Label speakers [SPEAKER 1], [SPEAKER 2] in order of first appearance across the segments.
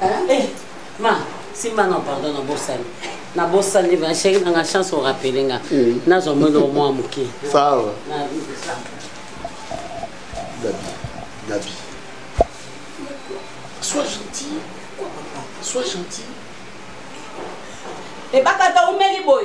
[SPEAKER 1] Hein? Eh, ma, si ma non, pardon, non, bossani. Na bossani, ma chérie, na chance au rappeler, na. Mm. Na zo mwelo mwa muke. Sawa. Na, ça.
[SPEAKER 2] Gabi, Gabi. Sois
[SPEAKER 1] gentil. Sois gentil. Et eh, bakata umeli boy.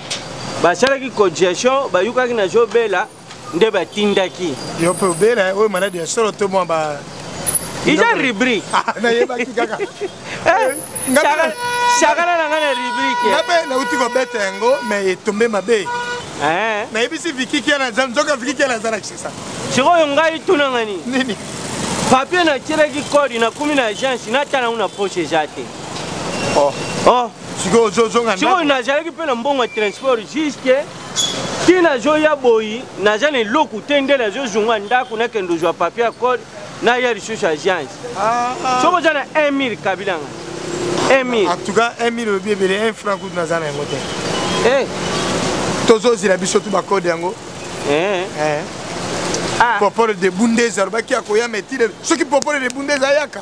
[SPEAKER 3] basalaki cogestion bayukaki na zobela nde batindaki yo mpe obela
[SPEAKER 4] oyo maladi ya solo to mwa ba iza
[SPEAKER 3] rubrique ah, nayebaki
[SPEAKER 4] kaka eh,
[SPEAKER 3] eh, shakala na ngai na rubrique nga mpe nauti kobeta
[SPEAKER 4] yango mais etombe mabe eh. nayebisi
[SPEAKER 3] vikikia
[SPEAKER 4] naza nzoka vikikia naza na kisasa sikoyo ngai
[SPEAKER 3] tunanga nini nini
[SPEAKER 4] papier
[SPEAKER 3] natyelaki kodi nakumi na agence natanango na poche eza te
[SPEAKER 4] oh. Oh.
[SPEAKER 3] sikoyo ozozonga
[SPEAKER 4] sikoyo nazalaki mpe na
[SPEAKER 3] mbongo ya transport juste ti nazoya boyi naza na eloko te nde nazozonga ndako nakende ozwa papier ya code naya lisusu agence ah, ah. soki oza
[SPEAKER 4] na 1 mille
[SPEAKER 3] kabilanga 1 mille en tout cas 1 mille
[SPEAKER 4] olobi ebele 1 franc kutu naza na yango te eh. tozozela biso tu bakode yango eh. eh. ah. popole de bundeza alobaki akoyama etile soki popole de bundeza ayaka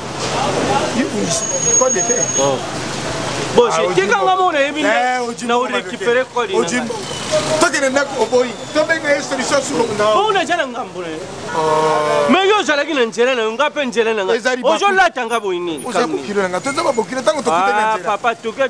[SPEAKER 3] kekanga mona yebi na orekipere kodi
[SPEAKER 4] tokende ndako oboyi tobenga ye solution sukopo naza na ngambo na
[SPEAKER 3] ye mai yo ozalaki na nzela na yo nga mpe nzela na nga ozolata nga boyi nini
[SPEAKER 4] papa toke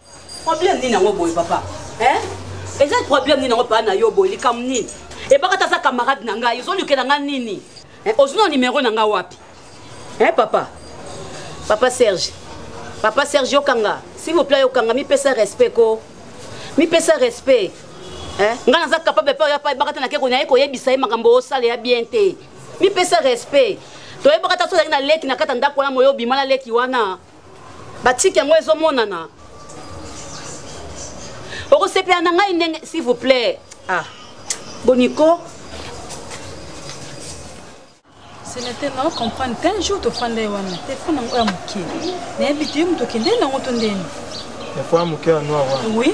[SPEAKER 3] problème nini
[SPEAKER 1] yango boye papa eh? eza problème nini yango paa na yo boye likambo nini ebaka ta aza camarade na ngai ozolukela ngai nini eh, ozwi na nimero na ngai wapi eh, papa papa serge papa serge yokanga s'il vous plaît yokanga mipesa respect ko mipesa respect eh? ngai naza capable mpe oya pa ebaka te nake konaye koyebisa ye makambo osala ya bien te mipesa respect toyebaka ta soki ozalaki na leki na kati ya ndako wana moyo obima na leki wana batiki yango ezomonana okosepela na ngai ndenge s'il vous plaît ah boniko
[SPEAKER 5] senate nao comprendre te un jour tofanda ye wana telefone yango ya moke nayebi te yo moto okende nango to ndeni telefone ya
[SPEAKER 4] moke ya noir wana oui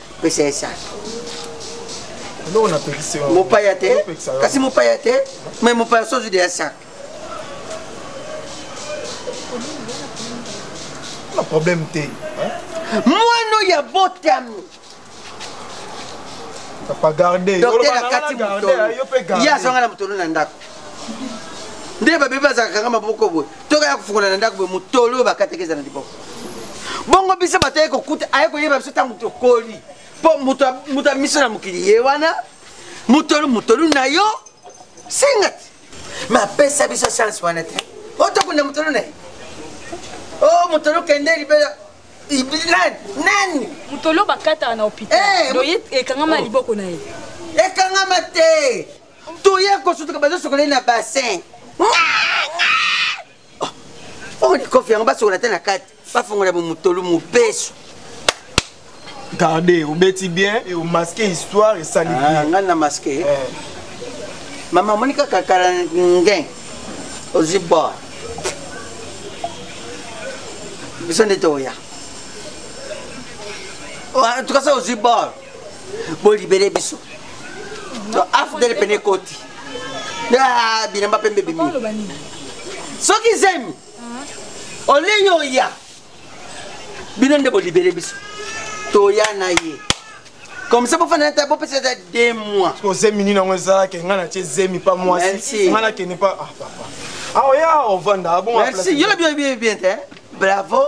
[SPEAKER 6] pesa ye sage
[SPEAKER 4] mopaya te
[SPEAKER 6] kasi mopaya te mai mopaya so ozwi deya sage
[SPEAKER 4] na problème te mwana
[SPEAKER 6] oyo abotami
[SPEAKER 4] dokter akati moto
[SPEAKER 6] ye azwanga na motolo na ndako nde babebi azalaka kanga maboko boye toka ya kofukola na ndako boye motolo oyo bakataki eza na liboko bongo biso bato aye kokuta aye koyeba biso ntango tokoli mpo moto ya miso na mokili ye wana motolu motolu na yo senga te mapesa biso chance wana te otokunda motolu na ye o oh, motolu kende libela nani motolu
[SPEAKER 5] bakataka na hôpital eh, ekangama liboko na ye ekangama
[SPEAKER 6] te toye kosutuka bazosokola ye na bassin omoni oh, kofi yango basokola te na kati bafongola bomotolu mobesu
[SPEAKER 4] garde obeti bien e omaske histoire esali ah, ngai na maske eh.
[SPEAKER 6] mama omoni kaka kala ngen ozwi bor biso nde toya oh, en tout cas ça ozwi bor bolibele biso afdele pene ekoti ah, bilamba pembe bimi soki zemi olei oya bino nde bolibele biso toya na ye comme ça bofanda ta bopesa ata de mois o zemi nini yango ezalaki
[SPEAKER 4] ngai natye zemi pa mwasi ngai nakende pa ah papa aoya ah, ovanda abongamerci ah, yo na bino
[SPEAKER 6] bien te bravo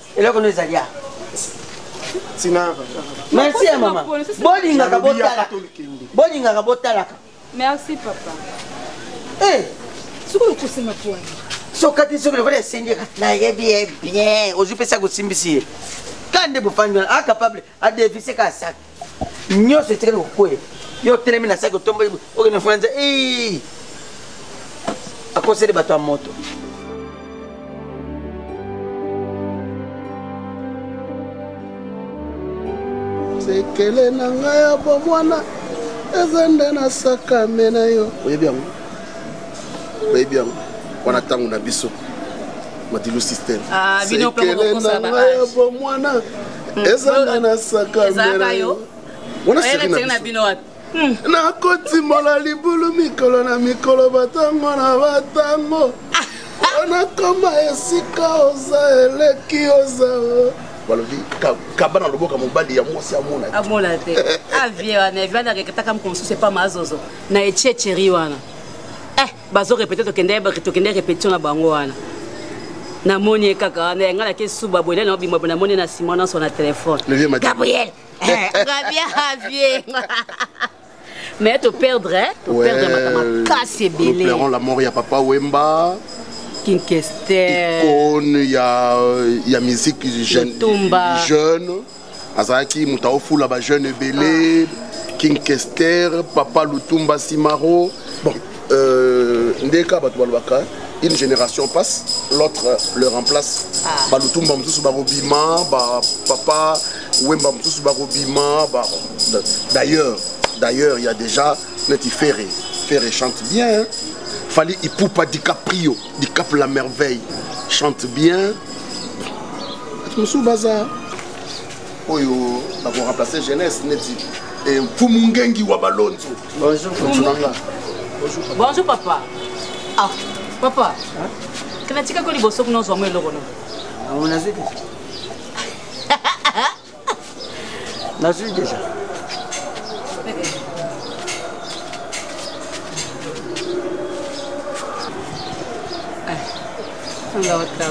[SPEAKER 6] eloko no ezali a
[SPEAKER 4] merci
[SPEAKER 6] ya mama bolingaka botalaka bolingaka botalaka merci papa
[SPEAKER 5] eh.
[SPEAKER 6] soki
[SPEAKER 5] okosi maponi sokati soki
[SPEAKER 6] lokola esengi nayebi ye bien ozwi mpesi akosimbisi ye ka nde bofandi wana acapable adefise ka saki nyonso etikali kokweya yo otelemi na saki otomboli okende fona nza akoseli bato ya moto
[SPEAKER 2] sekele na ngai ya bomwana eza nde nasakame na yo oyebi yango bayebi yango wana ntango na biso madilu système ah, sekele na ngai ya bomwana hmm. ezanga na sakamela yo wana seri na bino wapi hmm. nakotimola libulu mikolo na mikolo batango na batango nakoma esika oza eleki oza balobi kaba na loboko ya mobali ya mwasi amona te
[SPEAKER 1] avie ah, wana evianakeketaka moko mosusu epa mazozo na echecheri wana eh bazo répéter tokende tokende répétition na bango wana namoni ye kaka wana yanga nake suba boye nani obima na moni na sima nyonso na telefone gabriel gabia havie mais toperdre eh? toperdre makambo makasi ebele la mort ya papa
[SPEAKER 2] wemba
[SPEAKER 1] kinkester icone ya,
[SPEAKER 2] ya musique jeune, jeune azalaki moto aofula bajeune ebele ah. king kester papa lutumba simaro bon. euh, nde kaka bato balobaka une génération passe l'autre le remplace ah. balutumba mosusu bakobima bapapa wemba mosusu bakobima ba... d'ailleurs d'ailleurs il y a déjà neti ferre ferre chante bien hein? fali ipupa dicaprio dicap la merveille chante bien mosusu baza oyo bakoremplace jeunesse neti eh, mfumu ngengi wa balonzo bonjour
[SPEAKER 1] papa ah papa kanatikako liboso kuna ozwango eloko no ah,
[SPEAKER 6] nazwi deja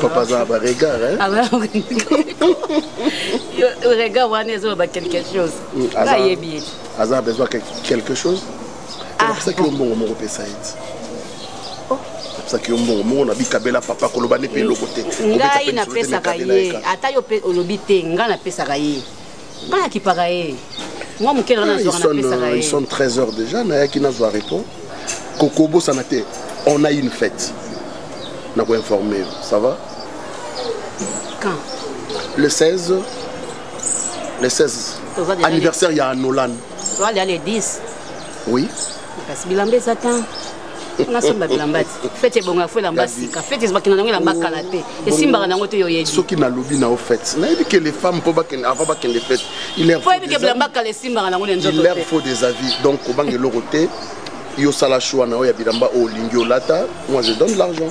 [SPEAKER 2] papa aza ba
[SPEAKER 1] regard regard wana ezoloba quelque chose ayebi aza besoin
[SPEAKER 2] quelque chose napesaki yo mbongo moko pesa ye ti napesaki yo mbongo moko na bikabela papa koloba nde mpe eloko te ngai napesaka
[SPEAKER 1] ye ata yo mpe olobi te ngai napesaka ye ngai nakipaka ye mwa moke na nazwanapesaka ye son 13 heures déjà
[SPEAKER 2] nayaki nazwa repos kokobosana te on a une fête nakoinforme yo ça va
[SPEAKER 1] quand
[SPEAKER 2] le 16 le 16 anniversaire ya nolan Toi, il y a les
[SPEAKER 1] 10. Oui.
[SPEAKER 2] Kasi bilamba
[SPEAKER 1] eza tan nasomba bilamba te fete ebonga fo elamba sika fete ezobakina nango elamba kala te esimbaka nango te yoyebi soki nalobi na yo
[SPEAKER 2] fete nayebi ke les femmes mpo bakende avant bakende fete po yebi ke bilamba kala esimbaka nango na nzoto te faut des avis donc kobanga eloko te yo sala choix na yo ya bilamba oyo olingi olata moi je donne l'argent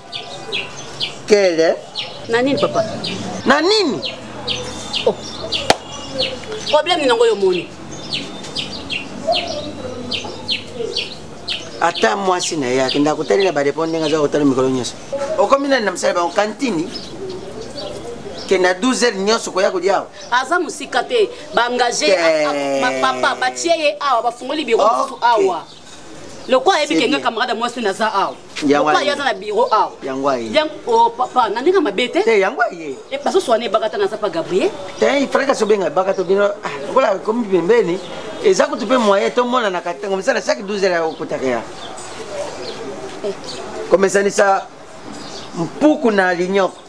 [SPEAKER 6] kele na nini papa
[SPEAKER 1] na nini oh. problème nini yango yo omoni
[SPEAKER 6] ata mwasi na ye akenda kotali na bareponse ndenge aza kotala mikolo nyonso okomi nani na mosala bango kantini ke na 12 heures nyonso koya kolia awa aza mosika te
[SPEAKER 1] baengage papa batie ye awa bafungoli biro mosusu awa lokola ayebi ke nga camarade mwasi oyo naza awa lokola ye aza na biro awa oh,
[SPEAKER 6] papa na
[SPEAKER 1] ndenge mabe te yango aye eh,
[SPEAKER 6] bazoswana ebakata
[SPEAKER 1] naza pa gabriel te ifalaki asobenga
[SPEAKER 6] ebakata bino ah, lokola komi pembeni eza kutu mpe moyen tomonanaka ntango misala chaque 12 heure ya kokutaka ya eh. komesanisa mpuku na linyoko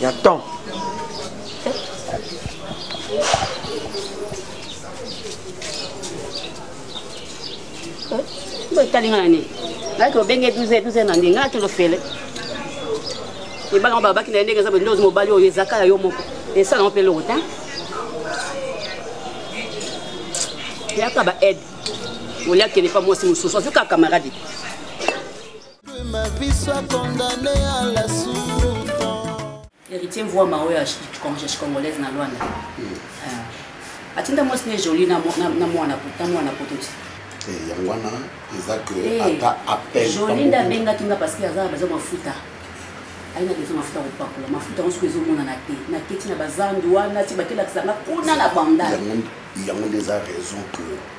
[SPEAKER 6] ya temps
[SPEAKER 1] etali nga na nini nayaki obenge 12 12 na ndenge nga te lofele ebanga babaki na ye ndenge eza bende ozi mobali oyo ezaka ya yo moko esalanga mpe eloko te yaka ba aide oliakende mpa mwasi mosusu azwi kaka camarade
[SPEAKER 7] Héritier
[SPEAKER 1] mvua maoyo ya congolaise na Luanda. Euh, atinda mwasi ne jolie na mwana poto na mwana poto ti. Eh, yango wana
[SPEAKER 2] eza que eh, ata appel. Jolie nda benga tinga
[SPEAKER 1] parce que aza baza mafuta. aina dezo mafuta kopakola mafuta yango soki ezomonana te naketi na bazando wana ti bakelakisanga kuna na bandal yango nde eza
[SPEAKER 2] raison que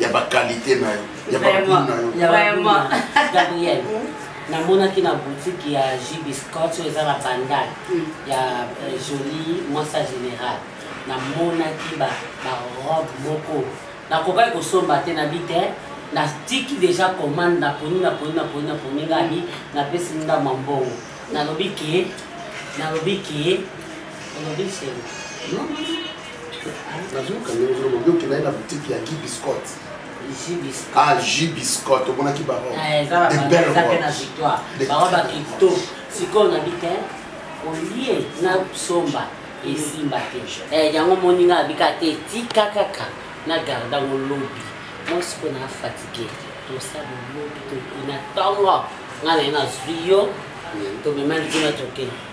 [SPEAKER 2] ya ba qualité na yo ya ba goût na yo vraiment
[SPEAKER 1] Gabriel namonaki na boutique ya JB Scott oyo eza na bandal mm. ya euh, jolie mwasa général namonaki ba ba robe moko nakokaki kosomba te na bi te natiki deja commande naponi naponi naponi naponi ngai napesi ndama mbongo nalobi ke nalobi ke olobi selo
[SPEAKER 2] nazoyoka ndenge ozoloba obi okendaki na boutique ya guy biscotte ah jus biscotte omonaki bango eh, de
[SPEAKER 1] belle bango bakito sikoyo nabi te olie na somba esimba te eh, yango moninga abika te tika kaka na garda ngo lobi moi sikoyo na fatigue tosala lobi na ntongo ngai na ye nazwi yo tomema likima tokende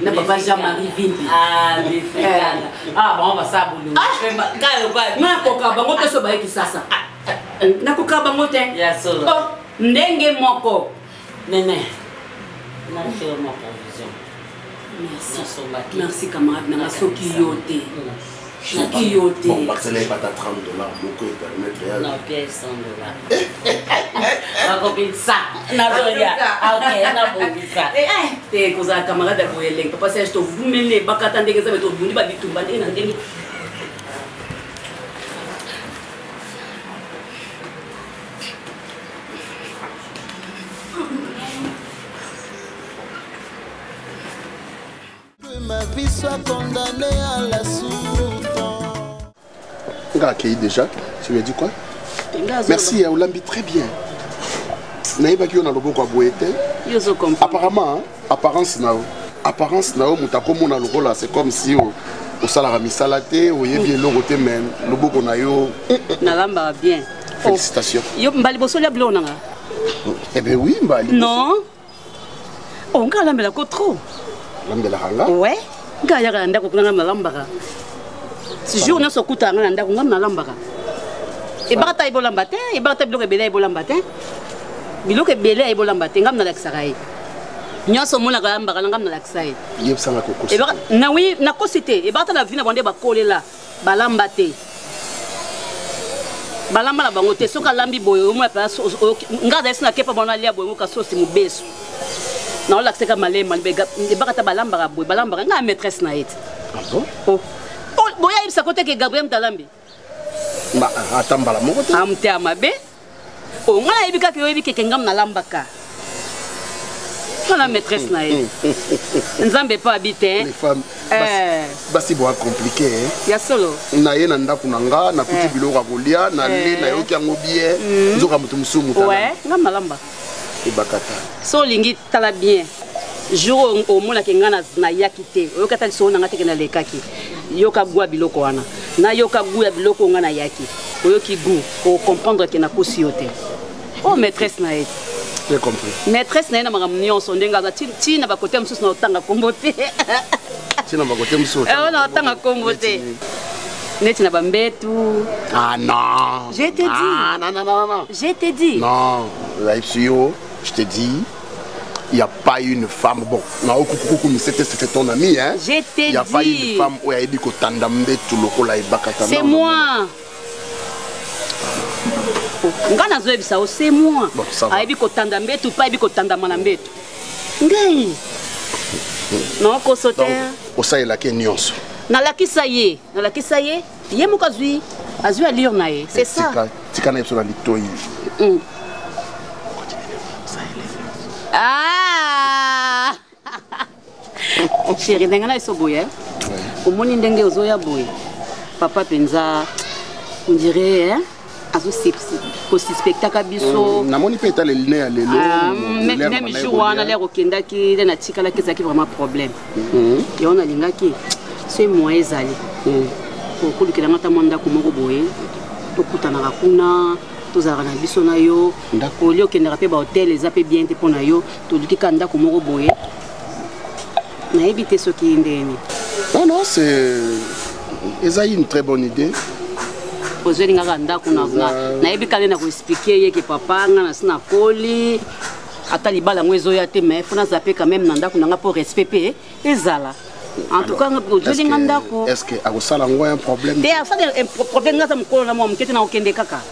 [SPEAKER 1] na papa jean marie vimbi ah, eh. ah, bango basala bolongo ah. nakoka bango te so baye kisasa nakoka bango te oh, ndenge moko nene merci camarade nanga soki yo te naki yo te bon bakisala ye bata
[SPEAKER 2] 30 dollars moko epermettre ya na pièce 100
[SPEAKER 1] dollars bakobisa nazoya ok nabongisa te kozala camarade ya boye elengi papa serge tovumele bakata ndenge eza me tobundi babitumba ndenge na ndenge
[SPEAKER 2] nga akei déjà tu lui as dit quoi merci ya olambi très bien nayebaki yo na loboko ya boye te apparemment apparence na yo apparence na yo moto akomona lokola c'est comme si oh, osalaka misala te oyebi eloko te me loboko na yo nalambaka
[SPEAKER 1] bien félicitation
[SPEAKER 2] yo mbali bosoli
[SPEAKER 1] ya biloko nanga eh
[SPEAKER 2] bien oui mbali non
[SPEAKER 1] o ngai alambela ko trop alambelaka nga
[SPEAKER 2] we ngai ayaka
[SPEAKER 1] na ndako kuna ngai nalambaka jour nyonso okutaka ngai na ndako ngai nalambaka ebaka ta ye bolamba te ebaka ta biloko ebele ya ye bolamba te biloko ebele ya ye bolamba te ngai nalakisaka ye nyonso omonaka yambaka na ngai nalakisa ye
[SPEAKER 2] ebaka nawi
[SPEAKER 1] nakosi te ebaka ta na vi na bango nde bakolela balamba te balamba na bango te soki alambi boye omona place nga azalisi na kepa bana alia boye ngoka sosi mobesu naolakisaka malema ebaka ata balambaka boye balambaka ngai ya maîtresse na ye te ah
[SPEAKER 2] oh. oh,
[SPEAKER 1] boyayebisa koteke gabriel mtalambi
[SPEAKER 2] ata mbala moko te amte ah, ya mabe
[SPEAKER 1] o oh, ngai nayebi kaka oyebi keke ngam nalambaka wana maîtresse na ye nzambe mpo abi te eh.
[SPEAKER 2] basi boa komplike eh. ya solo na
[SPEAKER 1] ye na ndako na
[SPEAKER 2] nga nakuti eh. biloko ya kolia na le nayoki yango bie mm. nzoka moto mosusu moto nga malamba
[SPEAKER 1] ebakata
[SPEAKER 2] so olingi
[SPEAKER 1] tala bien jour omonaki ngai nayaki te oyoki ata lisolo na ngai teke nalekaki yoka gwa biloko wana nayoka gu ya biloko oyo ngai nayaki oyoki gu okomprendre ke nakosi yo te o oh, maîtresse na ye
[SPEAKER 2] maîtresse na ye na makambo
[SPEAKER 1] nyonso ndenge aza ti na bakote mosusu na otanga nkombo te ti
[SPEAKER 2] na bakote mosusu eh, na otanga nkombo
[SPEAKER 1] te neti na bambetu ah
[SPEAKER 2] non je te ah, dis ah, non, non, non,
[SPEAKER 1] non. je te dis
[SPEAKER 2] non oyebisi yo je te dis il n'y a pas une femme bon na okukuku misete c'était ton ami hein je te dis il n'y a pas
[SPEAKER 1] une femme
[SPEAKER 2] oyo ayebi kotanda mbetu lokola ebakata
[SPEAKER 1] c'est moi ngai nazoyebisa yo se moi ayebi kotanda
[SPEAKER 2] mbetu mpe ayebi kotandama na mbetu ngai
[SPEAKER 1] naokoso te osalelaki
[SPEAKER 2] nyonso nalakisa ye
[SPEAKER 1] nalakisa ye ye moko azwi azwi alire na ye c'est eh, ça tika na ye biso na
[SPEAKER 2] litoi mm.
[SPEAKER 1] ah! chéri ndenge na eso boye eh? omoni ndenge ozoya boye papa mpenza ondire eh? kosuspectaka biso mm, namoni mpe etala eline
[SPEAKER 2] ya lelo ah, meme
[SPEAKER 1] jour wana lere okendaki nde natikalaki ezalaki vraiment problème mm-hmm. yango nalingaki soki moyen ezali mm. okolukela nga ata mwa ndako moko boye tokutanaka kuna tozalaka na biso na yo olie okendaka mpe bahotel eza mpe bien te mpo na yo toluki kaka ndako moko boye nayebi te soki ndeni non non c'est
[SPEAKER 2] eza une très bonne idée ozweli
[SPEAKER 1] nga ka ndako na nayebi kani na koexplike ye ke papa nga nasi nakoli ata libala yango ezoya te mais fo naza mpe quand même na ndako na nga mpo respect mpe ezala en tout cas ozweli nga ndako est
[SPEAKER 2] ce que akosala yango un problème te asala
[SPEAKER 1] problème nga aza mokolo na mwa moke te nakokende kaka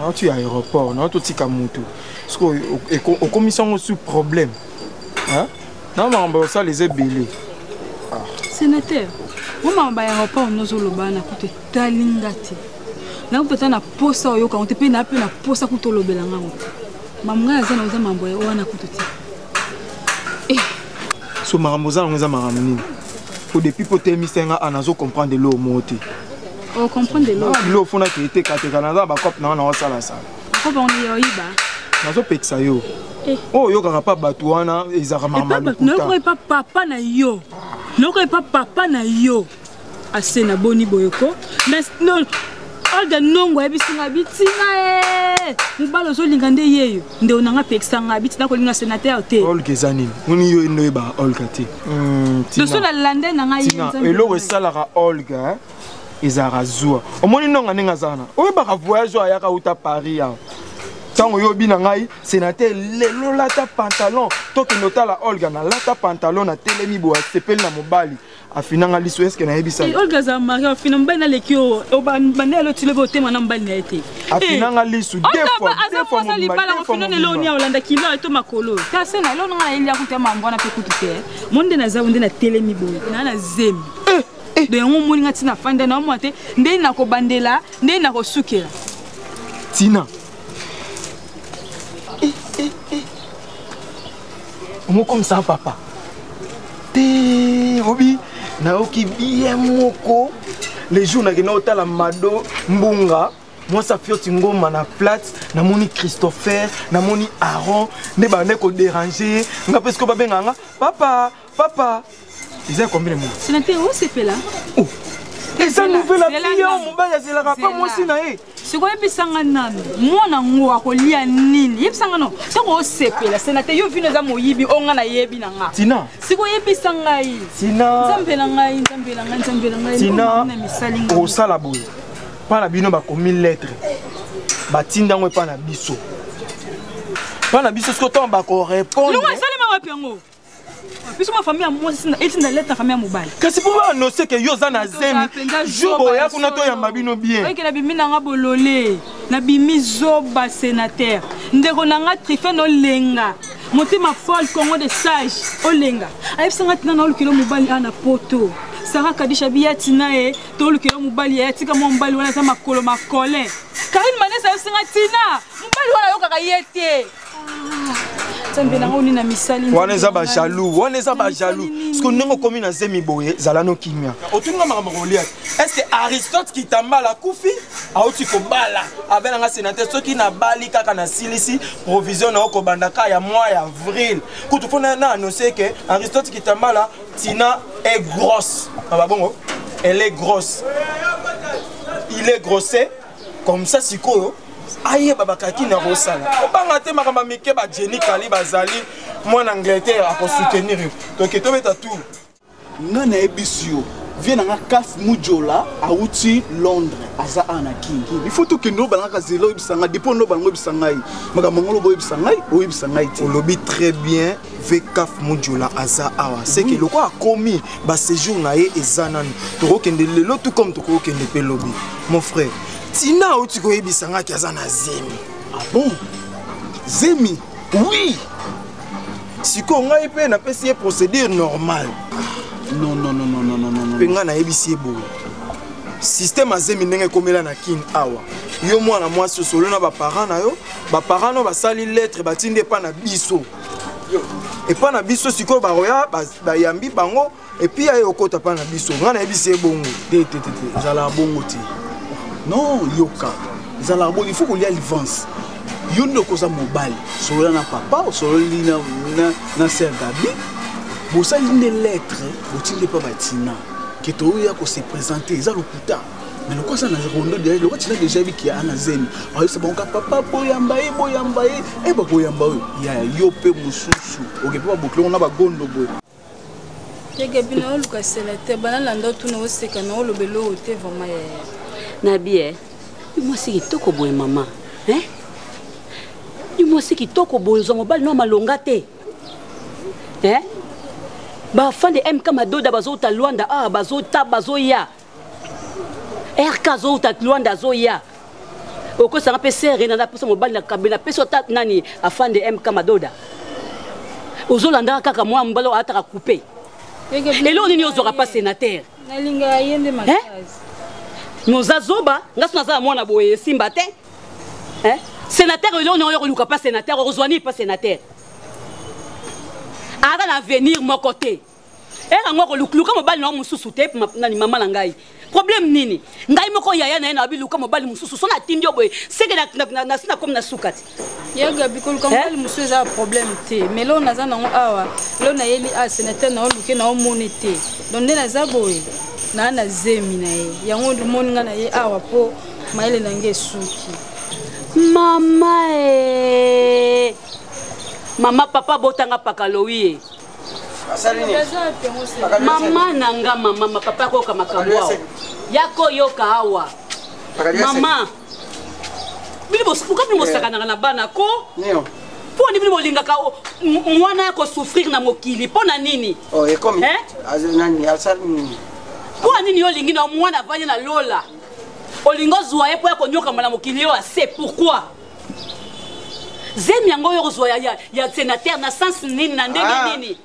[SPEAKER 4] nauti ya aéroport nauti otika motu sikoyo okomisi yango su problème na makambo ya kosala eza ebele ah.
[SPEAKER 5] sénateur o makambo ya aéroport nozoloba na kutu etali nga te nakutu ata na posa oyoka yango te mpe naa mpe na posa kutu olobela ngango te mamu ngai aza na oza makambo ya wana kutu te eh.
[SPEAKER 4] so makambo oza nango eza makambo nini po depuis po telemisa nga ana azo comprendre eloo moo te o comprendre
[SPEAKER 5] lo ah lo fona te te kateka
[SPEAKER 4] na za ba cop na na osala sala ko ba on yo iba
[SPEAKER 5] nazo pekisa
[SPEAKER 4] yo eh. oyo oh, oyokaka mpa bato wana ezalaka mamalokuta papa
[SPEAKER 5] na yo noko epa papa na yo ase na boni boye ko mais non olga nongo ayebisi nga bitinga e mobali ozolinga nde yeyo nde onanga pekisa nga bitina kolinga senateur te olga eza nini moni
[SPEAKER 4] yo enoyeba olga te doso hmm, na
[SPEAKER 5] lande na ngai eloko esalaka
[SPEAKER 4] olga ezalaka zuwa omoni nonga ndenge azala na oyebaka voyage oyo ayaka uta paris awa ntango oyobi na ngai senater lelo lata pantalon tokende otala olga na lata pantalon na telemi boye asepeli na mobali afinanga liso eske nayebisaolga aza mari afina
[SPEAKER 5] mobali naleki yo banda yalo tilobi otema na mobali na ye te afinanga lisu
[SPEAKER 4] aza libala ofina nelo
[SPEAKER 5] ni olanda kilo eto makolo kasi na elo nanga nayeli akuta mambo wana mpe kutu te mo nde naza nde natelemi boye naa na zemi eh. do yango omoni nga ntina afanda na omwa te ndenge nakobandela ndenge nakosukela ntina
[SPEAKER 4] eh, eh, eh. omokomisa papa te obi nayoki biye moko le jour nakenda otala mado mbunga mwasi afioti ngoma na plate namoni christopher namoni aron nde bande koderange ye nga mpe sikoyo babenga nga papa papa eza ya combien mois sina te osepela
[SPEAKER 5] oh.
[SPEAKER 4] eza nouvelle api ya mobali azelaka pa mwasi na ye sikoyo yebisa nga
[SPEAKER 5] nano mwana ngo akolia nini yebisa nga no ntango osepela sena te yo vino eza moyibi o nga nayebi na nga tina sikoyo yebisa
[SPEAKER 4] ngai
[SPEAKER 5] tina nzambe na ngai nzambe na ngai nzambe na ngai tina
[SPEAKER 4] misali ngai osala boye mpa na bino bakomi lettre batinda yango epa na biso mpa na biso sikoyo ntango bakorepondre longo esalema wapi yango
[SPEAKER 5] biso ma famille ya mwasi eti na leta famille ya mobali kasi mpo baanonse ke
[SPEAKER 4] yo oza na zemi jour oya kuna toyamba bino bien oyeke na bimi na nga
[SPEAKER 5] bolole na bimi zoba sénateur ndeko na nga trifen olenga motema paul congo de sage olenga ayebisa nga tina na olukelo mobali a na poto sara kadisha biyati na ye tolukela mobali ya tika mwa mobali wana aza makolo makolin karine manesa ayebisa nga tina mobali wana ayokaka ye te nzambe nango nini na
[SPEAKER 4] misali wana eza bajalou wana eza bajalou siko ndenge okomi na zemi boye zala no kimia otuninga makambo kolia est ce que aristote kitambala akufi auti kobala abe nanga senateur soki nabali kaka nasilisi provision na yo kobanda ka ya mwa ya avril kutu mpo na annonce ke aristote kitambala tina est grosse ababongo ah, elle est grosse il est grossé comme ça sikoyo ayeba bakaki na kosala obanga te makambo ya mike bajeni kali bazali mwana angleterre akosoutenir yo toke tobeta tour nga
[SPEAKER 8] nayebisi yo vie na nga kaf mujola awuti londres aza awa na kingi ifo tokende obalangaka zela oyebisa ngai depo nde obalanga oyebisa ngai makambo yango loba oyebisa ngai oyebisa ngai te olobi très bien
[SPEAKER 4] vkaf modiola aza awa seke lokola akomi baséjour na ye eza nanu tokokende lelo tout comme tokokende mpe lobi mon frère tina auti koyebisa ngaki aza na zemi ah bon
[SPEAKER 8] zemi oui
[SPEAKER 4] sikoyo ngai mpe napesi ye procédure normale
[SPEAKER 8] mpe
[SPEAKER 4] ngai nayebisi ye boye système azemi ndenge ekomela na kin awa yo mwana mwasi osolo na baparent na yo baparent na yo basali lettre batindi epa na biso epa na biso sikoyo bakoya bayambi bango epuis aye okota mpa na biso ngai nayebisi ye bongo te te te te
[SPEAKER 8] ezalaka bongo te non yoka ezalaka bongo il faut kolia livance yo nde okoza mobali solola na papa osololi na, na, na ser gabi bosali nde lettre botindi epa batina ke toyoya kose présente eza lokuta mais lokola aza na rondo deja lokola tina deja yebi kia ana zemi ayebisa bango ka papa boyamba ye boyamba ye e bakoyamba oyo ya yo mpe mosusu oke mpe babokilongo na bagondo boye
[SPEAKER 5] yegabi na oluka sela te banalanda otuna oseka na oloba eloko te vraimen yaya na bie
[SPEAKER 1] mwasi kitoko boye mama ni mwasi kitoko boye ozwa mobali no malonga te bafan de mk madoda bazouta lwanda awa ah, bazota bazoya rk azowuta luanda azoya okosanga mpe sere na napesa mobali na kambe napesi ata nani afande mk madoda ozolandaka kaka mwa mobali oyo ataka coupe eloko nini ozwaka mpa sénateur
[SPEAKER 5] noza
[SPEAKER 1] zoba nga so naza na mwana boye esimba te sénateur eloko nini oyokoluka mpa sénateur okozwa nini mpa sénateur aza na avenir moko te ere yango akoluka mobali na yo mosusu te nani mama na ngai problème nini ngai moko yaya na ye nabi luka mobali mosusu so natindi yo boye seke nasi nakomi na suka te ya gabi koluka
[SPEAKER 5] mobali mosusu eza problème te mai loo naza nango awa loo nayeli a senateur na yo luke na omoni te donc nde naza boye naa na zemi na ye yango omoni ngai na ye awa mpo mayele na ngai esuki mama
[SPEAKER 1] e mama papa botanga pakalowi e mama na nga mama mapapa akoyoka makambo awa yakoyoka awa mama bino bosuka bino bosakanaka na bana ko
[SPEAKER 6] mpo nini bino
[SPEAKER 1] bolingaka mwana ya kosouffrir na mokili mpo na nini
[SPEAKER 6] oh, mpo na nini yo
[SPEAKER 1] olingi na mwana avandi na lola olingi ozwa ye mpo ya konyokama na mokili yo ase pourquoi zemi yango yo kozwa ya, ya senateur na sens nini na ndenge ah. nini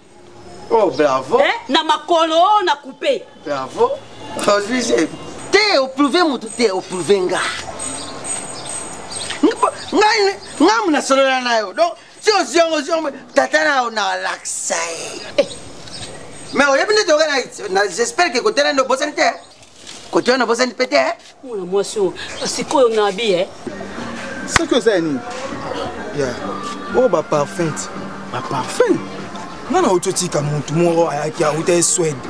[SPEAKER 1] oh
[SPEAKER 6] bravo eh? na makolo
[SPEAKER 1] oh, na coupe bravo
[SPEAKER 6] ozwi zemi te oprouve motu te oprouve nga ngamu nasolola na yo donc si ozwi yango ozwi yango tata na yo na lakisa ye eh. mais oyebi nde toyoka na j'espère ke kotela nde obosani te kote wana bozani mpe te eh? mwana mwasi
[SPEAKER 1] oyo sikoyo nabi e soki
[SPEAKER 8] oza ya nini ya
[SPEAKER 4] oyo oh, baparfum ti baparfum
[SPEAKER 8] nga na oti
[SPEAKER 4] otika motu moko ayaki auta ye swede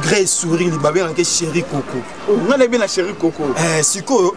[SPEAKER 4] grey souri libabengaki sheri koko oh, nga nayebi na sheri
[SPEAKER 8] koko eh, sikoyo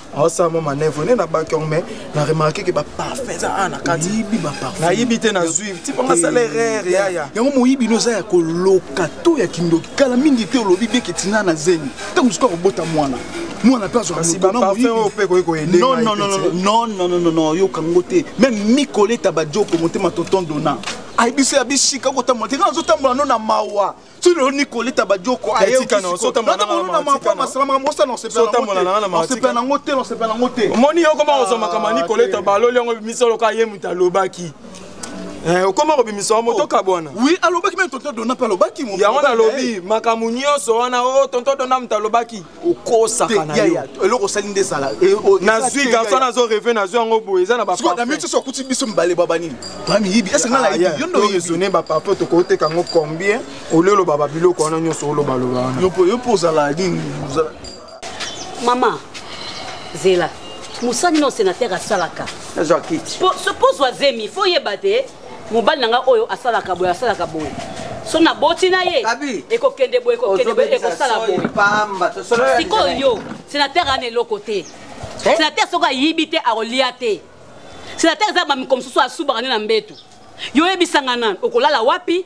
[SPEAKER 4] aosala mwa manœuvre nde nabaki yango mai na remarke ke baparfum eza a na kati nayibi
[SPEAKER 8] te nazwi
[SPEAKER 4] tipo nasala errere yaya yango moyibi no eza ya
[SPEAKER 8] koloka to ya kindoki kala mingi te olobi beke tina na zemi ntango mosuku akobota mwana mwana mpe
[SPEAKER 4] azwanonononononononono
[SPEAKER 8] yoka ngo te meme mikoleta bajoko motema tonton dona ayebiso ya bisika kotambola te nga nazotambola no na mawa tino nikolita badioko ayeotamona
[SPEAKER 4] mampa
[SPEAKER 8] masalamaka mosa na osepela nango te na osepela nango te omoni yo koma kozwa makambo
[SPEAKER 4] ya nikoleta baloli yango ebimisa loka ye moto alobaki Eh, okoma kobimisa wa moto oh. kabwana wi alobaki meme tonto
[SPEAKER 8] dona mpe alobaki yango nalobi
[SPEAKER 4] makambo nyonso wana o oh, tonto dona moto alobaki eloko osali nde ezala
[SPEAKER 8] eh, oh, nazwi garso
[SPEAKER 4] nazo reve nazwi yango boye eza na baamiso okuti biso
[SPEAKER 8] mibale baba nini bamiyibi esengalaezone baparfum
[SPEAKER 4] tokoteka yango combien olio oloba babiloko wana nyonso olobaloba wana yo mpo ozala
[SPEAKER 8] nini mama zela
[SPEAKER 1] mosani na osenatere asalaka mpo ozwa zemi fo oyeba te mobali na ngai oyo asalaka boye asalaka boye so naboti na ye ekokende boye ekokende boye ekosala boye sikoyo yo senatere ana eloko te eh? senatere soki ayibi te akolia te senatere eza bamiko mosusu asubaka nde na mbetu yo oyebisanga nani okolala wapi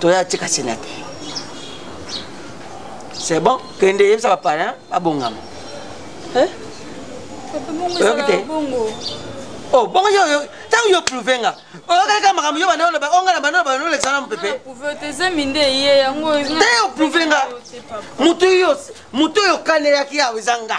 [SPEAKER 6] toya tika sena te c'est bon kende yebisa bapalin babongama eh? oyoki te oh, bongo yo ntango yo prouve nga oyokalaka makambo yo bana oloba onga na bana oloba nolekisa na mopepe te
[SPEAKER 5] oprouve nga
[SPEAKER 6] motu oyo okanelaki yawe eza nga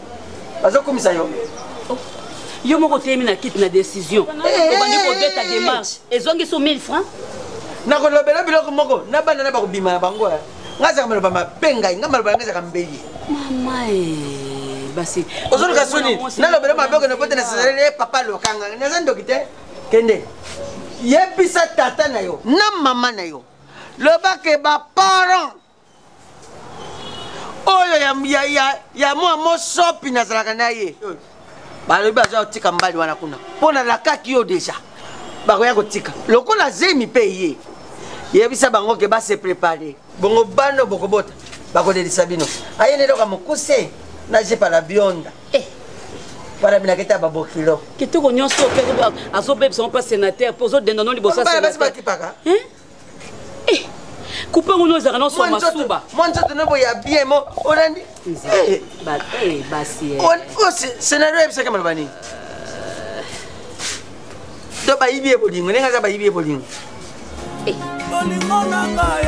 [SPEAKER 6] bazokumisa yo oh.
[SPEAKER 1] yo moko oteyemi na kiti na décision eh. obandi kobeta démarche ezongisi 1000 francs nakolobela
[SPEAKER 6] biloko moko na bana na bakobima na bango eh. nga azaka maloba mabe ngai nga maloba yango ezaka mbeli
[SPEAKER 1] basi ozoluka soni
[SPEAKER 6] nalobela mabe okende pote na sezaleli ye eh, papa lokanga naza ndoki te kende yebisa tata na yo na mama na yo lobake baparent oyo ya, ya, ya, ya mwa mosopi nazalaka na ye balobi baza kotika mbali wana kuna mpo nalakaki yo deja bakoya kotika lokola zemi mpe ye yebisa bango ke base prepare bongo bano bokobota bakolelisa bino aye neloka mokuse na jepa na bionda eh. wana binaketa babokilo kitoko nyonso mpe
[SPEAKER 1] azobebisa ngo mpa sénateur mpo ozodenda no liboso ya sénateur
[SPEAKER 6] eh,
[SPEAKER 1] kupe ngo nozaka nonso masuba mwa nzoto nobo ya
[SPEAKER 6] bien mo olandi eh. eh, basi
[SPEAKER 1] oh, oh, scenario
[SPEAKER 6] oyebisaka maloba nini to bayibi ye bolingo ndenge aza bayibi ye bolingo
[SPEAKER 7] bolingo na ngai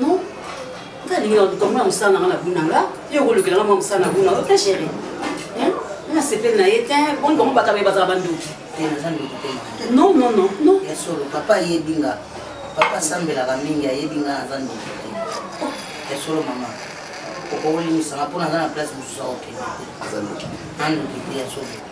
[SPEAKER 1] Non. Nga lingi na duka mwa musala nga na buna nga. Yo ko lukela nga mwa musala na buna. Ok chérie. Hein? Na sepel na yete. Bon bon baka ba za bandu. Tena za ndu tena. Non non non non. Ya solo papa ye
[SPEAKER 9] dinga. Papa sambela ka mingi ye dinga za ndu. Ya solo mama. Ko ko lingi sa pona na place mususa ok. Za ndu. Andu ya solo.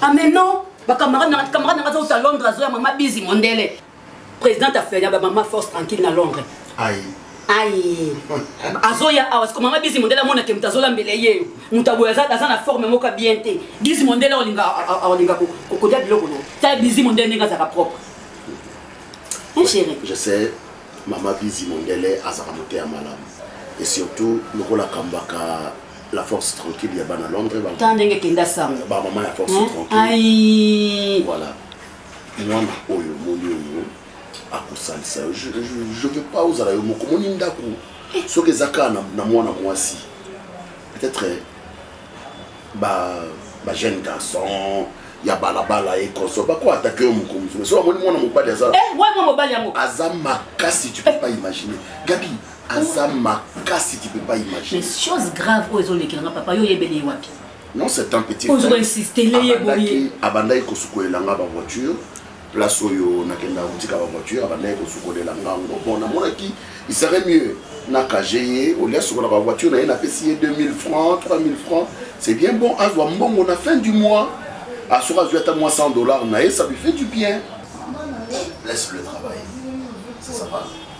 [SPEAKER 1] amen non bacamarade nanga camarade nanga azouta londres azoya mama bizi mondele président afeya bamama force tranquille na londres aye
[SPEAKER 2] aye
[SPEAKER 1] azoya awa siko mama bizi mondele amonake moto azolambela ye moto aboye aza na forme moko bien te bizi mondele olinga olinga kokodia biloko no ta bizi mondele ndenge azalaka propre hein chéri je sais
[SPEAKER 2] mama bizi mondele azalaka moto ya malamu et surtout lokola kambaka la force tranquille ya bana londres ta ndenge kenda sango
[SPEAKER 1] bamama ya force
[SPEAKER 2] tranquille
[SPEAKER 1] voilà
[SPEAKER 2] mwana oyo omoni oyo akosalisa yo je veux pas ozala yo moko omoni ndako eh. soki eza kaka na mwana mwasi peut-être bajeune ba garçon ya balabala ye console bako atake yo moko mosusu soki amoni mwana mobali aza eh,
[SPEAKER 1] aza makasi
[SPEAKER 2] tu peux pas imaginer gabi aza makasi tu peux pas imaginer mais chose grave oyo
[SPEAKER 1] ezolekela nga papa yo oyebeli ye wapi non c'est un petit
[SPEAKER 2] ozokoinsistele
[SPEAKER 1] abandaki kosukolela
[SPEAKER 2] nga bavoiture place oyo nakenda kotika bavoiture abandaki kosukolela ngango bon namonaki il serait mieux nakage ye olia sukola bavoiture na ye napesi ye 2000 francs 3000 francs c'est bien bon azwa mbongo na fin du mois asoki azwi ata mwa 100 dollars na ye ça lui fait du bien laisse le travail c'est ça va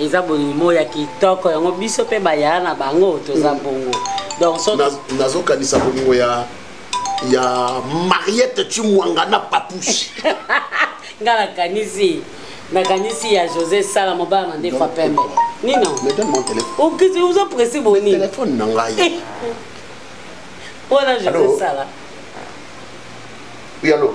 [SPEAKER 1] eza bolimo ya kitoko yango biso mpe bayaya na bango toza mm. bongo donc so nazokanisa bolingo
[SPEAKER 2] ya ya mariette chimwanga na papouche nga
[SPEAKER 1] nakanisi nakanisi ya josé sala mobala na ndefu apembe nino
[SPEAKER 2] okisi oza presi
[SPEAKER 1] boni telefone na ngai
[SPEAKER 2] eh.
[SPEAKER 1] wana josé sala oui
[SPEAKER 2] allo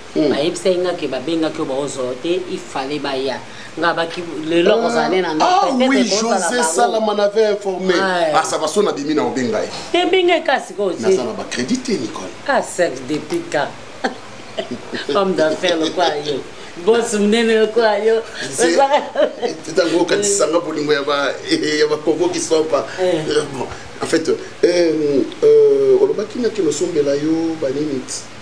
[SPEAKER 1] Hmm. bayebisaki nga ke babengaki yo baozolo te ifale baya nga baki lelo ah, kozala ne na
[SPEAKER 2] ndaoui ah josé salama navait informé asa baso na bimi na obenga ye te benga ye kasi
[SPEAKER 1] konaza na bacrédit te
[SPEAKER 2] nicole ah sex depuis
[SPEAKER 1] ka homme d'affaire lokwa yo bosi monene lokola yo
[SPEAKER 2] ntango okatisanga bolingo ya bakongo kisopa eh. en fait eh, euh, olobaki naki nosombela yo banini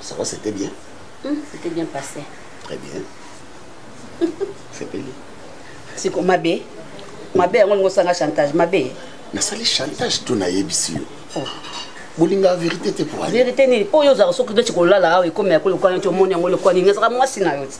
[SPEAKER 2] Ça va, c'était bien mmh, C'était bien
[SPEAKER 1] passé. Très bien.
[SPEAKER 2] C'est bien. C'est comme ma
[SPEAKER 1] bé. Ma bé, on a un chantage. Ma bé. Mais ça, les
[SPEAKER 2] chantages, tout n'a ici. Oh. bolinga verité te po verité nini po yo ozalaka soki
[SPEAKER 1] nde tikolala awa ekomi yako lokwani ti omoni yango lokwani nini ezalaka mwasi na yo ti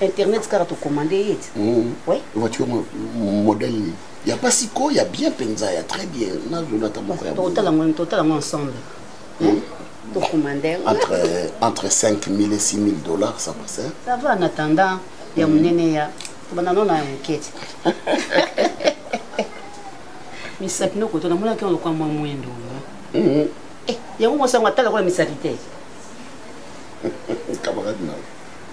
[SPEAKER 1] internet kaka tocommande ye ti hmm. voiture
[SPEAKER 2] modèle nini ya basi ko ya bien mpenza ya très bien nazolata moko ya
[SPEAKER 1] totala ngo ensemble hmm? Hmm? tocommande
[SPEAKER 2] entre, entre 5 000 et 6 000 dollars ça passe ça va en attendant
[SPEAKER 1] ya monene ya tobanda nona ya moke ti misapi nokoto namonaki yango lokwa mwa mwendo eh, yango mosango atala kola misapi te
[SPEAKER 2] camarade nao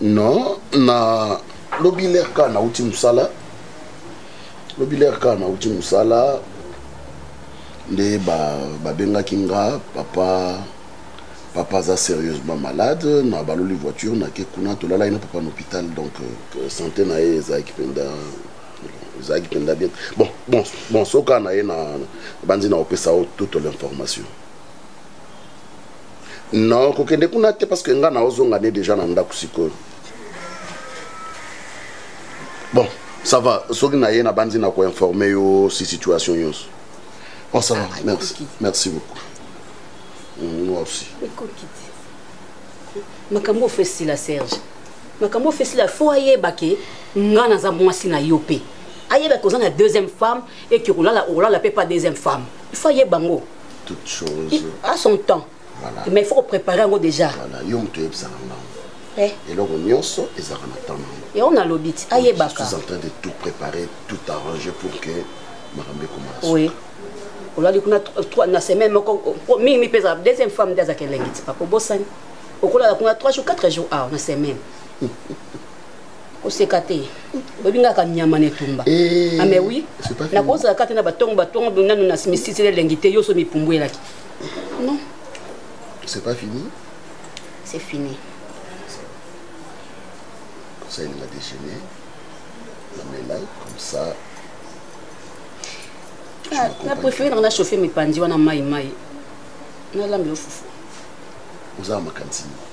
[SPEAKER 2] non na lobi ler ka nauti mosala lobi ler ka nauti mosala nde babengaki ba nga papa papa aza sérieusement malade na baloli voiture nake kuna tolalaki na papa na hôpital donc euh, santé na ye ezalaki mpenza ezalaki mpenza bien bon bon bon soka na ye na banzi na opesa yo toute l'information non kokende kuna te parce que nga na ozonga nde déjà na ndako sikoyo bon ça va soki na ye nabanzi na koinforme yo si situation nyonso bon ça va ah, merci merci beaucoup mm, moi aussi
[SPEAKER 1] makambo ofesi la serge makambo ofesi la fo ayeba ke nga naza mwasi na yo mpe ayeba ke oza na deuxième femme eke okolala okolala mpe pa deuxième femme il faut ayeba ngo toute chose
[SPEAKER 2] Il, à son temps
[SPEAKER 1] voilà. mais il faut préparer yango déjà voilà. yo moto oyebisaka
[SPEAKER 2] ngango eh. eloko nyonso ezalaka na temps nango yango nalobi ti
[SPEAKER 1] ayebaka en train de tout
[SPEAKER 2] préparer tout arranger pour que makambo ekoma oui
[SPEAKER 1] olali kuna na semaine moko mingi mi mpeza deuxième femme nde azaka elengi ti papa obosani okolala kuna 3 jours 4 jours awa na semaine oseka te oyebi nga ka nyama na etumba eh, ame ah, wi nakozala kaka te na batongo batongo nanu na misisili elengi te yoso mipumbwelaki non c'est
[SPEAKER 2] pas fini c'est
[SPEAKER 1] fini
[SPEAKER 2] comme ça il m'a déjeuné namela comme ça ah,
[SPEAKER 1] na préféré nanga na chauffe mipanzi wana mai mai nalambela fufu oza
[SPEAKER 2] na makanisi nini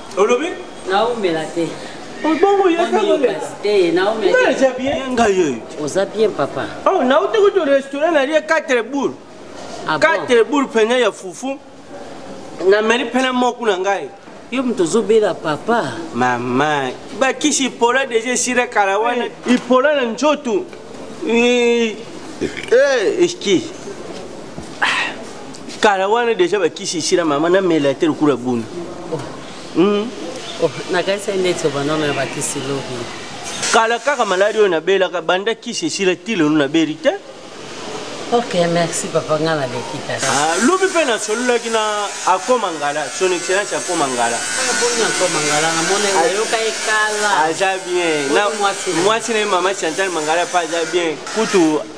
[SPEAKER 1] olobi naumela te bongo
[SPEAKER 3] yeza
[SPEAKER 1] bien ngai
[SPEAKER 3] oyo oza bien papa
[SPEAKER 1] oh, nauti kutu
[SPEAKER 3] restaurant nalie 4 boule 4 boule pene ya fufu nameli pene moku na ngai yo moto ozobela
[SPEAKER 1] papa mama
[SPEAKER 3] bakisi ipola deja esila kala wana eh, ipola na nzoto eh, eh, eski kala wana deja bakisi esila mama namela te lokola boni hmm? oh,
[SPEAKER 1] nakanisa ndeti obanono ya bakisi lobi kala kaka
[SPEAKER 3] maladi oyo nabelaka banda kisi esila ti lelo nabeli te
[SPEAKER 1] ok merci papa nga naleki kaka ah, lobi mpe
[SPEAKER 3] nasololaki na akoma ngala son excellence akoma ngala
[SPEAKER 1] ah, ah, aza bien
[SPEAKER 3] mwasi na ye mama chantal mangala mpe aza bien kutu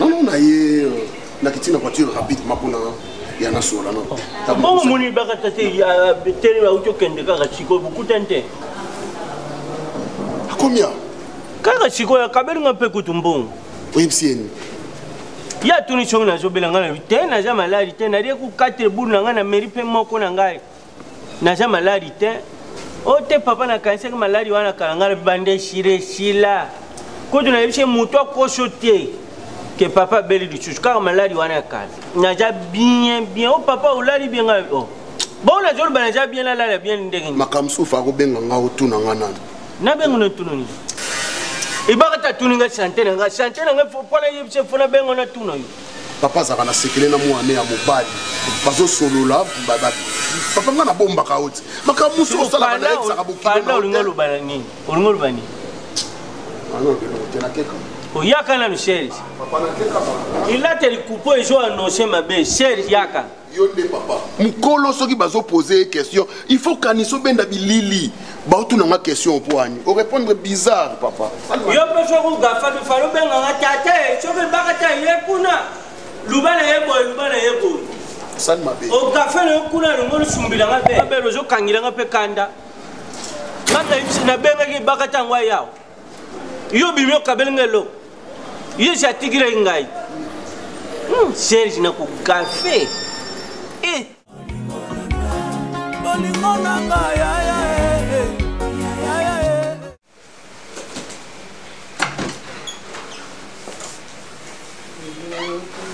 [SPEAKER 3] nono na ye
[SPEAKER 2] euh, nakiti na voiture rapidement mpona ya nasola no bongo moni bakata
[SPEAKER 3] te tele bauti okende kaka sikoyo bokutani te
[SPEAKER 2] akomia kaka sikoyo
[SPEAKER 3] akabeli nga mpe kutu mbongo oyebisi yeni
[SPEAKER 2] ye
[SPEAKER 3] atuni soki nazobela ngai na te naza maladi te nalie kokatele bulu na ngai na meri mpe moko na ngai naza maladi te o oh, te papa nakanisaki maladi wana kala ngai banda esila esila kutu nayebisi moto akoso te ke papa abeli lisusu kaka maladi wana ya kala naza bien bien o oh, papa olali bien ngai o oh. bongo nazoloba naza bien nalala bien ndenge makambo susu akobenga
[SPEAKER 2] ngai otuna ngai nani nabenga natuna
[SPEAKER 3] nini ebaka ta tuni ngai sante na ngai sante na ngai mpo nayebisa mpo nabenga natuna yo papa azalaka na sekele
[SPEAKER 2] na mwana ya mobali bazosolola papa nga nabombaka yo te makambo mosusu osalaka nayebisaka
[SPEAKER 3] bokiolingolobani
[SPEAKER 2] oyaka nanu
[SPEAKER 3] serge
[SPEAKER 2] elata likupo
[SPEAKER 3] ezo anonse mabe serge yaka yo nde papa
[SPEAKER 2] mokolo soki bazopose ye question il faut kanisa obenda bilili baotuna nga question mpo ani orépondre bizarre papa yo mpe soki
[SPEAKER 3] ogafaki fali obenganga tata ye soki ebaka ta ye kuna luba na ye boye luba na ye boye sali mabe
[SPEAKER 2] ogafe na yo kuna
[SPEAKER 3] elongo lusumbilanga mpe abele ozokangilanga mpe kanda ngai nabengaki ebaka ntango ayawa yo bimi okabeli nga eloko yesu atikilaki ngai hmm, serge na kogafe e eh. bolingo na nga yaya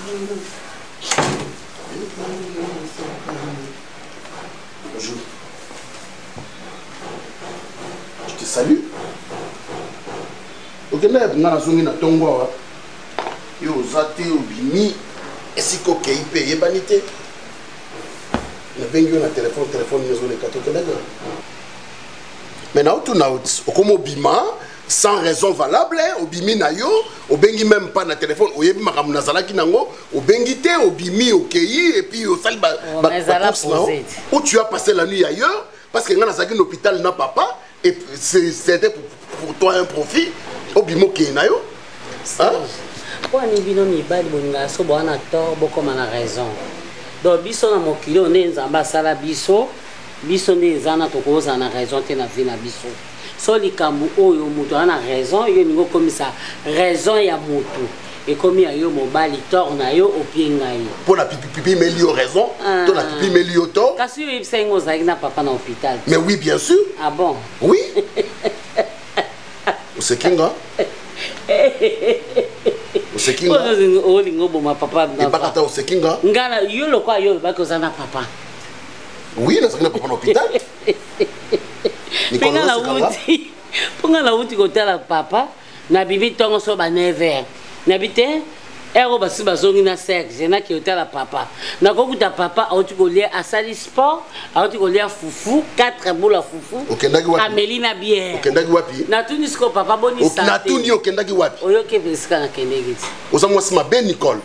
[SPEAKER 3] Thank you.
[SPEAKER 2] Bonjour. Je te salue. okenda ya nga nazongi na ntongo awa yo oza te obimi esika okei mpe eyebani te nabengi yo na telefone telefone ezoleka te okendaki wana mais na otuna okomi obima sans raison valable obimi na yo obengi meme pas na telefone oyebi makambo nazalaki nango obengi te obimi okeyi epuis osali bacourse nao ou tu as passé la nuit ailleurs parce que ngai nazalaki na hôpital na papa et c'était pour, pour toi un profit obimi okei na yo mpo ani
[SPEAKER 1] bino mibali bolingaka so boa na tort bokoma na raison donc biso na mokili oyo nde nzambe asala biso biso nde eza na tokozala na raison te na vie na biso so likambo oyo moto aza na raison yo olingi okomisa raison ya moto ekomi ya yo mobali tor na yo opie ngai mpo na pipipipi meli
[SPEAKER 2] yo raison ah. to na pipi meli yo tor kasi yo oyebisaki ngo ozalaki
[SPEAKER 1] na papa na hôpital mais oui bien sûr
[SPEAKER 2] ah bon oui oseki nga oseki nga olingi
[SPEAKER 1] oboma papa ebakata oseki nga
[SPEAKER 2] nga yo lokola
[SPEAKER 1] yo olobaki oza na papa oui
[SPEAKER 2] nazalaki na papa na hôpital mpe nga nauti
[SPEAKER 1] mpo nga nauti kotala papa na bibi ntongo so ba 9 heure nabi te ero basi bazongi na serge naki otala papa nakokuta papa auti kolia asali sport auti kolia fufu 4 bola fufu ameli na
[SPEAKER 2] bièreokendaki
[SPEAKER 1] wapi natuni
[SPEAKER 2] siko papa
[SPEAKER 1] bonisatuni okendaki
[SPEAKER 2] wapi oyoki epesika
[SPEAKER 1] nakendeki ti oza mwasi mabe
[SPEAKER 2] nicole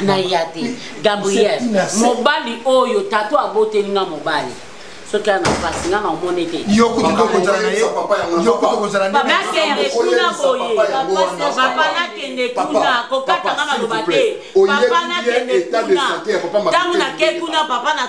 [SPEAKER 1] na ya te gabriel mobali oyo tato aboteli nga mobali soki ana mpasi nga naomoni te kuna
[SPEAKER 4] boye
[SPEAKER 1] papa nakende kuna kokata nga maloba te papa nakende kuna ntango nake kuna papa na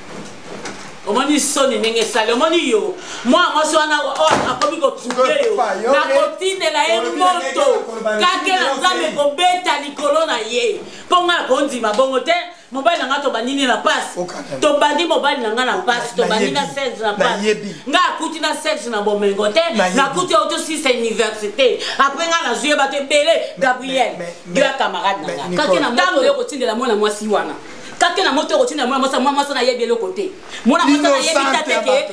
[SPEAKER 1] omoni soni ndenge esali omoni yo mwana mwasi wana akomi kotruble yo nakotindela ye moto kake na nzambe kobeta likolo na ye mpo ngai akondima bongo te mobali na ngai tobandi nde na mpasi tobandi mobali na ngai na mpasi tobandi na serge na mpasi ngai akuti na serge na bomengo te nakuti auto sisa université apres ngai nazwi ye bato ebele gabriel yo ya camarade na ngai kake na ntango yo kotindela mwana mwasi wana kake na moto okotina mwana mwasi mwana mwasi nayebi eloko te mwana mwasi nayebi ta te ke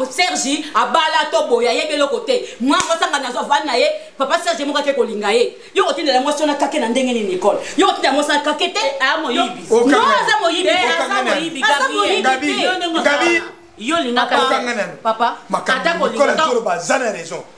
[SPEAKER 1] sergi abala to boye ayebi eloko te mwana mwasi anga nazwa vani na ye papa sergi moko ake kolinga ye yo kotindela mwasi wana kake na ndenge nini ekole yo kotindela mwasi wana kake te eh, aza moyibi yo lingaka papa ata kolinga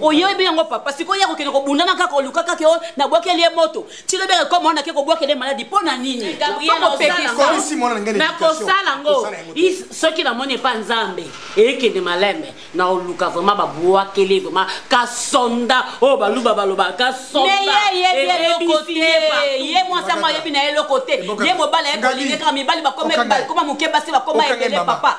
[SPEAKER 1] oyebi yango papa sikoyo ye akokende kobundana kaka oluka kaka yo nabwakeli ye moto tilobi akekoma wana ake kobwakeli ye maladi mpo na nini nakosala ngo soki namoni epa nzambe ekende malembe na oluka vraimen babwakeli vraimen kasonda oyo oh, baluba baloba kasondaye mwasi yango ayebi na ye eloko te ye mobali ayekolingi kaka mibali bakoma moke basi bakoma ebele papa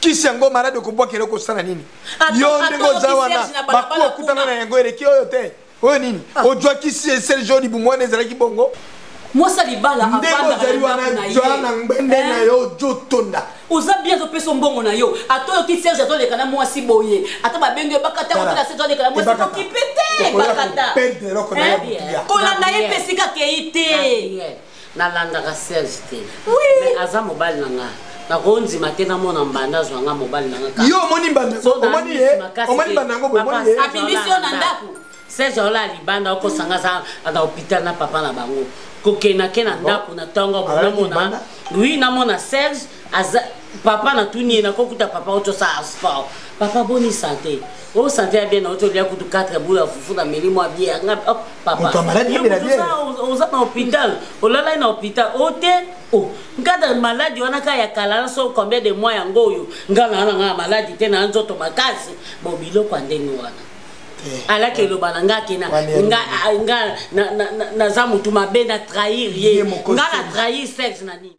[SPEAKER 4] kisi yango maladi okobwakela okosala nini yo ndenge oza wana bakuwa okutana na yango eleki oyo te oyo nini ah. ojwa kisi eserge oyo libumu wana ezalaki bongo mosa libala
[SPEAKER 1] ndenge ozali wana
[SPEAKER 4] jwa na ngbende eh? na yo jotonda oza bien azopesa
[SPEAKER 1] mbongo na yo ata oyoki serge azoleka na mwasi boye ata babengi yo bakata kotala serge azoleka na mwasi kokipe te bakata eh,
[SPEAKER 4] kolanda ye mpe
[SPEAKER 1] esika kei te nalandaka serge te mais aza mobali na nga nakondima te namona mbanda azwa nga mobali na nga yo omoni
[SPEAKER 4] mbanda omoni ye
[SPEAKER 1] omoni
[SPEAKER 4] mbanda yango bomoni ye abimisi yo na ndako serge
[SPEAKER 1] ola libanda okosanga aza na hôpital na papa na bango kokenake na ndako na ntongo bonamona wi namona serge aza papa natuni ye nakokuta papa otosala sport papa boni sante o sante ya bien na oto lia kutu 4 bula ya fufu na meli mwa bie ya nga oh, papa
[SPEAKER 4] oza na hôpital
[SPEAKER 1] olalai na hôpital o te o oh, nkata maladi wana ka ya kala na so combien de mois yango oyo nga na wana nga maladi te na nzoto makasi bo biloko ya ndenge wana eh. alaki eloba na nga kena nga naza motu mabe na trahir ye nga na trahir sexe na nini